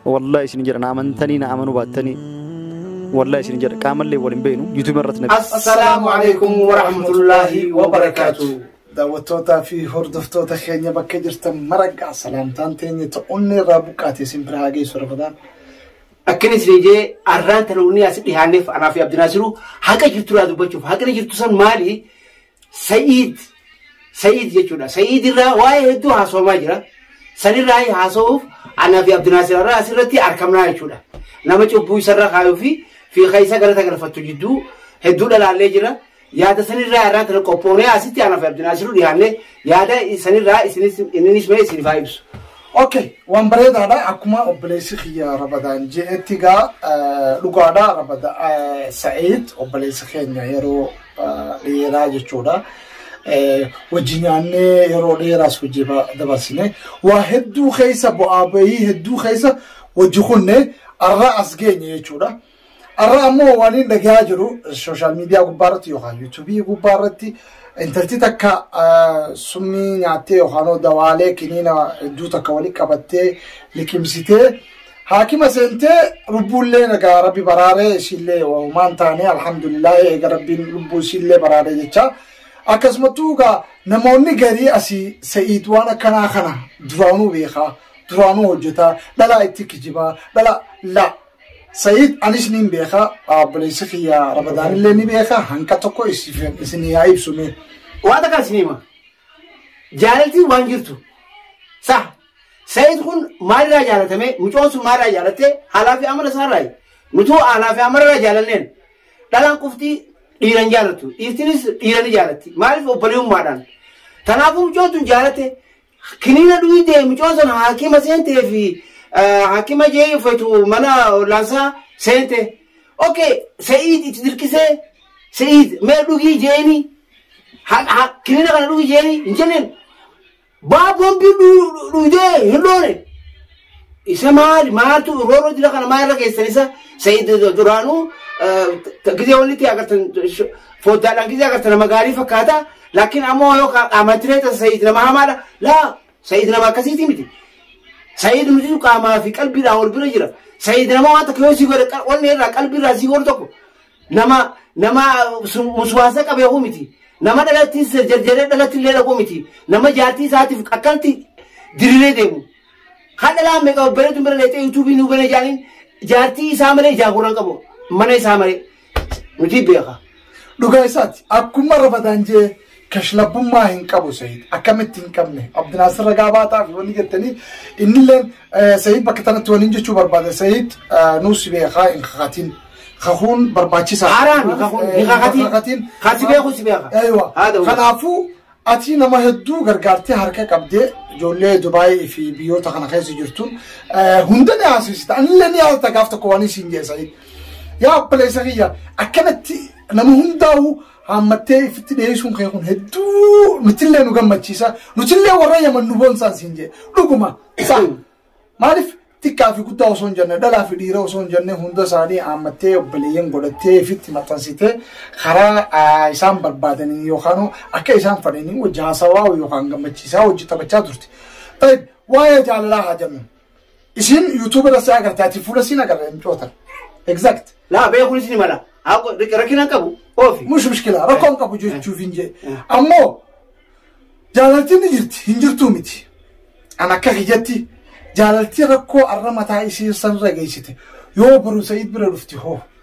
wallahi isin jedha na amantanii na amanuu baattanii wallahi isin jedha qaamallee wal hin beeknu yuutuubii irratti na Assalaamu alaikum wa rahmatullahi wa barakaatu. Daawwattootaa fi hordoftoota keenya bakka jirtan maragaa salaamtaan teenya ta'uun irraa buqqaate isin bira haa geessu rafadaan. Akkana isin jee arraan tana unni as dhihaanneef anaa fi Abdinaasiru haqa jirtu irraa dubbachuuf haqni jirtu san maali? Sa'iid Sa'iid jechuudha. Sa'iid irraa waa'ee hedduu haasawamaa jira. Sanirraa haasawuuf anaa fi Abdinaasir irraa asirratti argamnaa jechuudha. Nama cubbuu isarra kaayuu fi fi keessa galata galfattu jidduu hedduu dhalaallee jira. Yaada sanirraa irraa tana qophoonee asitti anaa fi Abdinaasir dhiyaannee yaada sanirraa isinis innis mee isin faa ibsu. Okay, waan bareedaadha. Akkuma obboleessi kiyya Rabadaan je'etti gaa dhugaadha. Rabada Sa'iid obboleessi keenya yeroo dheeraa jechuudha. Wajji nyaannee yeroo dheeraas hojii dabarsine waa hedduu keessa bu'aa bahii hedduu keessa wajji kunne arra as geenye jechuudha. Arra ammoo waan inni dhagahaa jiru sooshaal miidiyaa gubbaarratti yookaan yuutuubii gubbaarratti intalti takka summii nyaattee yookaan dawaalee kiniina hedduu takka walitti qabattee liqimsitee haakima seentee lubbuullee nagaa rabbi baraaree isiillee waan taane alhamdulillah eega rabbiin lubbuu isiillee baraaree jecha akkasumattuu egaa namoonni garii asii sa'iid waan akkanaa kana duraanuu beekaa duraanuu hojjetaa dhalaa itti kijibaa dhala la sa'iid anis niin beekaa obboleessi kiyya rabadaanillee ni beekaa hanqa tokko isin yaa ibsume waan takkaa isin hima jaalaltiin waan jirtu sa Sayid kun maalirraa jaalatame? Mucoon sun maalirraa jaalatte? Haalaa fi amala isaarraayi. Nutuu haalaa fi amalarraa jaalanneen dhalaan qofti dhiira hin jaalattu. Dhiirtinis dhiira ni jaalatti. Maaliif obboleewummaadhaan? Kanaafuu mucoon sun jaalatte kiniina dhugdee mucoon sun haakima seentee fi eh, haakima jee uffatu mana ollaansaa seente. Okay, Sayid itti dirqisee Sayid mee dhugii jeeni Ha- ha- kiniina kana dhugi jeeni hin jenneen Baa bombi dhudee hin loone. Isa maali maaltu rooroo jira kana maal irra keessan isa Sa'iid duraanuu gizee walitti agartan foddaadhaan gizee agartan nama gaarii fakkaata laakiin ammoo yoo qaamantiree tasa Sa'iid nama hamaadha laa Sa'iid nama akkasiiti miti. Sa'iid nuti qaamaa fi qalbiidhaan wal bira jira. Sa'iid nama waan takka yoo si godhe wanni irraa qalbiirraa si godhu tokko Nama nama muswaasa qabe hoo miti. Nama dhalattiin jarjaree dhalatti illee dhaquu miti. Nama jaartii isaatiif akkanatti diriiree deemu. Kan dhalaa meeqa bareedu bira leexee yuutuubii nuu bane jaaniin jaartii isaa malee jaaguraan qabu. Mana isaa malee. Nuti beeka. Dhugaa isaati akkuma rafataan jee Kashlabbummaa hin qabu Sayid. Akkamitti hin qabne? Abdinaasir ragaa baataa fi wanni jettanii innilleen Sayid bakka tanatti waliin jechuu barbaada. Sayid nuu si beekaa hin kakatin. Kakuun barbaachisaa. Haaraan kakuun hin kakatin. Kan si beeku si beeka. Eeywa. Haadha wal. Kanaafuu ati nama hedduu gargaartee harka qabdee ijoollee Dubaayii fi biyyoota kana keessa jirtu hunda ni haasisita. Anillee ni haasita gaaf tokko waan isin jeesanii. Yaa obboleessa kiyya akkanatti nama hundaa'u Haammattee ifitti dhiyeessuun kee kun hedduu nutillee nu gammachiisa. Nutillee warra yaman nu boonsaan siin jee. Dhuguma isaa maaliif xiqqaa fi guddaa osoo hin jenne dhalaa fi dhiira osoo hin jenne hunda isaanii haammattee obboleeyyan godhattee ifitti maxxansitee karaa ah, isaan barbaadanii yookaan akka isaan fadhanii wajji haasawaa yookaan gammachiisaa wajji taphachaa turte. Tayyib, Waa'ee jaalalaa haa jennu. Isiin yuutuubii irratti agartee ati fuula isiin agarre hin cootan. Exact. Laa beekuun isin mala. Haako rakkina hin qabu. Oofi. Mush mushkila rakkoon qabu jechuuf hin jee. Ammoo jaalaltiin ni jirti hin jirtuu miti. An akka kiyyatti jaalaltii rakkoo arra mataa isii sanirra geessite yoo boru Sa'iid bira dhufti hoo.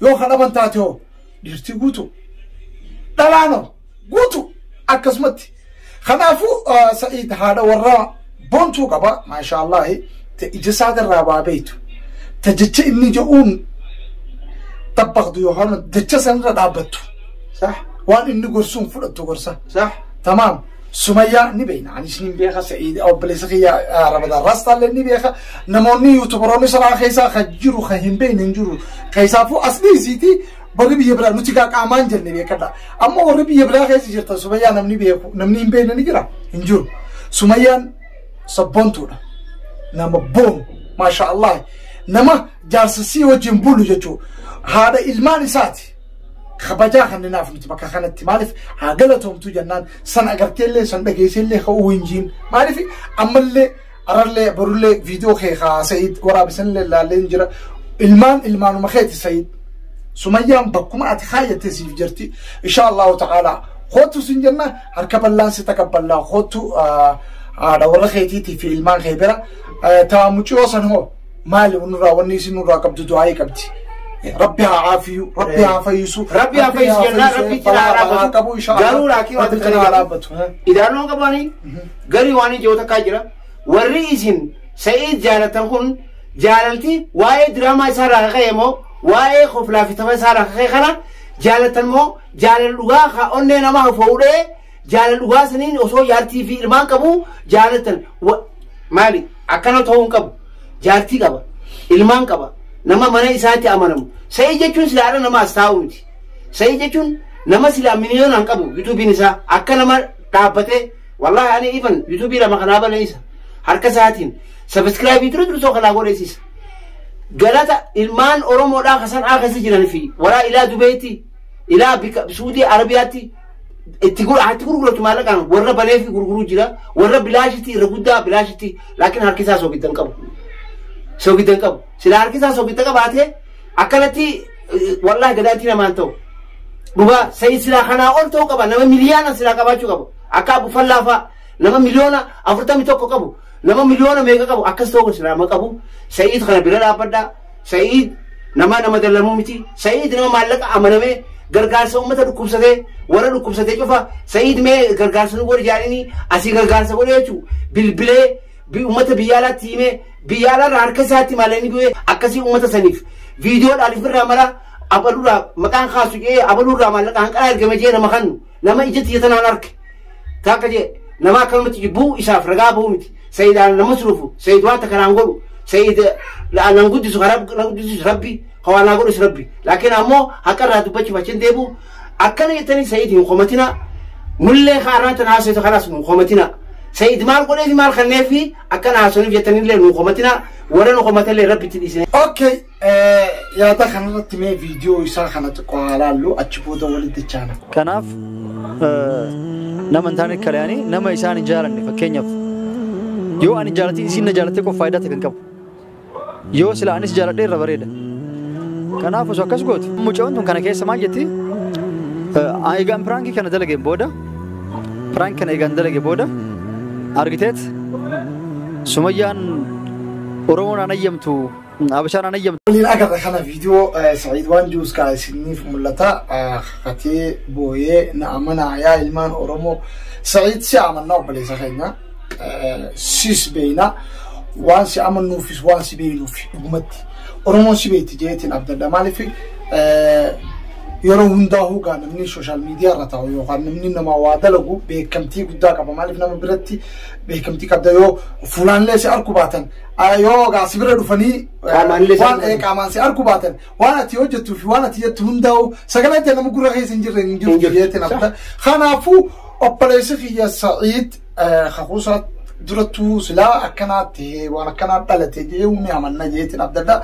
Yoo ka dhaban taate hoo dhiirtii guutu dhalaan hoo guutu akkasumatti. Kanaafuu Sa'iid haadha warraa bontuu qaba maashaallahi ta ija isaatirraa waa beektu ta jecha inni jedhuun tabbaqdu yookaan jecha sanirra dhaabbattu waan inni gorsuun fudhattu gorsa. Tamaam. Sumayyaa ni beekna. Anis ni beeka. Sa'iid obboleessa kiyya Ramadaan Raastaallee ni beeka. Namoonni yuutubaroonni sanaa keessaa kan jiru kan hin beekne hin jiru. Keessaafuu as dhiisiiti warri biyya biraa nuti gaa qaamaan jenne beekadha. Amma warri biyya biraa keessa jirtan Sumayyaa namni beeku namni hin beekne ni jira hin jiru. Sumayyaan sabboontuudha. Nama boonu maashaa Allah nama jaarsa sii wajjin bulu jechuudha. Haadha ilmaan isaati. kabajaa kanninaaf nuti bakka kanatti maaliif haa galatoomtu jennaan san agarteellee san dhageesseellee ka'uu hin jiin maaliif ammallee arallee borullee viidiyoo kee haa sa'id waraabisanillee laallee hin jira ilmaan ilmaanuma keeti sa'id sumayyaan bakkuma ati kaayyate siif jirti insha allahu ta'ala kootu sin jenna harka ballaan si taqabballaa kootu haadha warra keetiitii fi ilmaan kee bira taa muciyoo san hoo maali nurraa wanni isin nurraa qabdu du'aa'ii qabdi. Rabbi haa caafiyu, Rabbi haa fayyisu. Rabbi haa fayyisu jennaan Rabbi itti balaa haa balaa qabu insha Allah. Garuu laakii Rabbi wanti kana haa kana dhaabbatu. Idaanoo qabaanii garii waan ijoo takkaa jira. Warri isin Sa'iid jaalatan kun jaalalti waa'ee diraamaa isaa irraa kaka'e moo waa'ee koflaa fi tapha isaa irraa kaka'e kana jaalatan moo jaalal dhugaa ka onnee namaa fuudhee Jaalala dhugaa saniin osoo jaartii fi ilmaan qabuu jaalattan wa- maali akkana ta'uu hin qabu. Jaartii qaba, ilmaan qaba, nama mana isaatti amanamu. Sa'ii jechuun sila haadha nama as taa'u miti. Sa'ii jechuun nama sila miliyoona hin qabu yuutuubiin isaa akka nama dhaabbatee wallaahi ani ifan yuutuubii lama kanaa balleessa harka isaatiin sabiskiraabii ture ture tokko kanaa godheessisa. galata ilmaan oromoodhaa kasan akasi jiran fi waraa ilaa dubeetti ilaa bika suudii arabiyaatti itti gura hatti gurguratu maallaqaan warra banee fi gurguruu jira warra bilaashitti irra guddaa bilaashitti laakiin harki isaa soogidda hin qabu soogidda hin qabu sila harki isaa soogidda qabaatee akkanatti eh, wallaahi gadaatti namaan ta'u dhugaa sa'i silaa kanaa ol ta'uu qaba nama miliyaana silaa qabaachuu qabu akka abu fallaafaa nama miliyoona afurtamii tokko qabu nama miliyoona meeqa qabu akkas ta'uu silaa ma qabu sa'iitu kana bira dhaabbadhaa Sa'iid namaa nama dallanuu miti. Sa'iid nama maallaqa amanamee gargaarsa uummata dhukkubsatee warra dhukkubsatee cufa Sa'iid mee gargaarsa nu godhi jaanini asii gargaarsa godhe jechuu bilbilee bi- uummata biyya alaatti himee biyya alaarraa harka isaatti maalanii du'ee akkasii uummata saniif viidiyoodhaan ifirraa mara abaluurraa maqaan kaasu jedhee abaluurraa maallaqa hanqalaa ergame jedhee nama kannu Nama ija tiyya tanaan arke takka jee nama akkanumatti jibbuu isaaf ragaa ba'uu miti. Sayid ana na masruufu, Sayid wanta kanaan godhu, Sayid nan guddisu ka rabbi na guddisuus rabbi, ka waa naa godhus rabbi. Laakiin ammoo haqa irraa dubbachuuf achi hin deebi'u. Akkana jettanii Sayid hin komatina. Nullee ka arraa tan haasawitu kanas nu komatina. Sayid maal godheefi maal kanneefi akkana haasawaniif jettanillee nu komatina. Warra nu komatallee rabbitti dhiisine. Okay, Yaada kanarratti mee viidiyoo isaa kana xiqqoo haa laallu achi booda walitti dachaana. Kanaaf nama hin taane kalayaanii nama isaan hin jaalanne fakkeenyaaf yoo ani jaalatiin isiin na jaalattee qofa faayidaa ta'e kan qabu yoo sila anis jaaladhee irra bareeda. Kanaaf osoo akkas goote mucaan tun kana keessa maal jetti eegaan piraankii kana dalageen booda piraank kana eegaan dalage booda argiteet sumayyaan Oromoon aan ayyamtu Abashaan an ayyamtu. Waliin agarra kana viidiyoo Sa'iid waan jiruus kaa isiniif mul'ata. Kakatee booyee na amanaa yaa ilmaan Oromoo. Sa'iid si amannaa obboleessa keenya. Sis beeyna. Waan si amannuufis waan si beeynuuf dhugumatti. Oromoon si beeyti jeetiin abdadha maaliif yeroo hundaa hoogaa namni sooshaal miidiyaa irra taa'u yookaan namni nama waa dalagu beekamtii guddaa qaba maaliif nama biratti beekamtii qabda yoo fuulaallee si arku baatan Ah, yoo egaa si bira dhufanii eh, Qaamaan illee waan isaan- eh, qaamaan si argu baatan waan ati hojjettuu fi waan ati jettu hundaa'u sagalee itti nama gurra keessa hin jirre hin jirtu jirtu. jeetti na fudha. Kanaafuu obboleessi kiyya Sa'iid eh, kakuusaa durattuu silaa akkanaatti waan akkanaa dhalate jee humni amanna jeetti na fudha.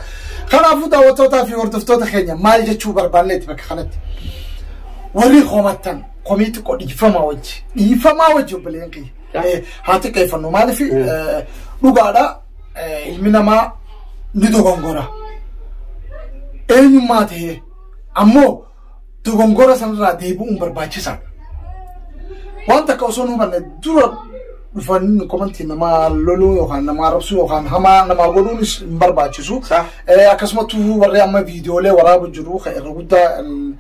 Kanaafuu daawwattootaa fi hordoftoota keenya maal jechuu barbaanneeti bakka kanatti. Warri homattan komii xiqqoo dhiifamaa wajji dhiifamaa wajji obboleen kiyya. Baay'ee haa xiqqeeffannu maaliif dhugaadha eh, ilmi namaa ni dogongora eenyummaa ta'ee ammoo dogongora sanarraa deebi'uun barbaachisaadha. Waan takka osoo hin hubanne dura dhufanii komantii namaa loluu yookaan namaa arrabsuu yookaan hamaa namaa godhuunis hin barbaachisu. Sa'a. Eh, Akkasumattuu warri amma viidiyoolee waraabaa jiru kan irra guddaa mm,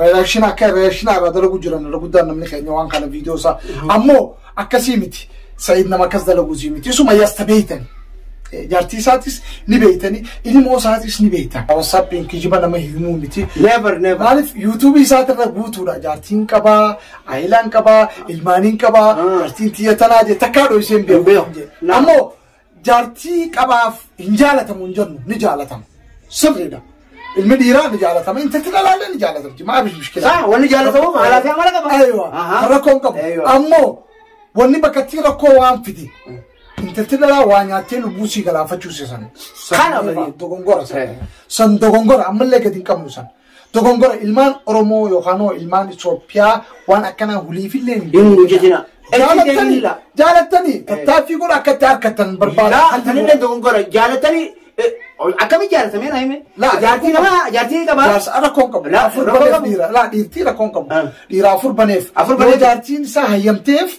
reaction akka reaction irraa dalagu jiran irra guddaan namni keenya waan kana viidiyoo isaa ammoo akkasii miti sa'id nama akkas dalagu sii miti isuma yasta beeytan jaartii isaatis ni beeytani ilmoo isaatis ni beeytan wasaappiin kijiba nama himuu miti never never maaliif yuutuubii isaatirra guutuudha jaartiin qabaa ayilaan qabaa ilmaaniin qabaa jaartiin tiyya tanaa jee takkaa dhoyseen beeku ammoo Jaartii qabaaf hin jaalatamu hin jennu ni jaalatama. Sirriidha. Ilmi dhiiraa ni jaalatama. Intalti dhalaallee ni jaalatamti. Maa bishi mushkilaa. Saa wanni jaalatamu maalaa fi amala qaba. Aywa. Ahaa. Kan rakkoo hin qabu. Aywa. Ammoo wanni bakka itti rakkoo waan fide. Intalti dhalaa waa nyaattee lubbuu sii galaafachuu seesan. Kana San bali. dogongora san. Eh. San dogongora ammallee gadi hin qabnu san. Dogongora ilmaan Oromoo yookaanoo ilmaan Itoophiyaa waan akkanaa huliifillee hin Hin hojjetina. Jaalattanii jaalattanii tattaaffii godha akka itti harkatan barbaada. Laa Haalli kan inni godha. dogongora jaalatanii eh, akkamitti jaalatamee naa hime? Laa, Jaartii nama jaartii ni qabaa? Jaarsa rakkoon qabu. Laa, Afur rakkoo baneef qabu. dhiira. Laa dhiirtii rakkoon qabu. Ah. Dhiira afur baneef. Afur Yoo baneef. jaartiin isaa hayyamteef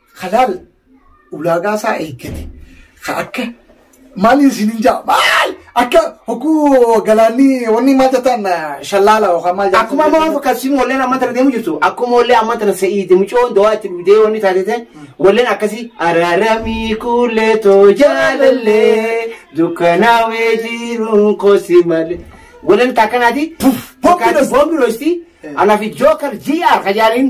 halaal ulaagaa isaa eeggate ka akka maaliin isin hin jaa maal akka hogguu galaanni wanni maal jettaan shallaala yookaan maal jettaan Akkuma amma waan akkasii walleen amma tana deemu jirtu akkuma wallee amma tana sa'iiti mucoon dawaa itti dhugdee wanni taatete walleen akkasii araramii kuulee too jaalallee dukkanaawee jiruun kosi malee walleen takkanaati Puff, bombi dhosti. bombi dhosti anaaf jookar GR kajaaliin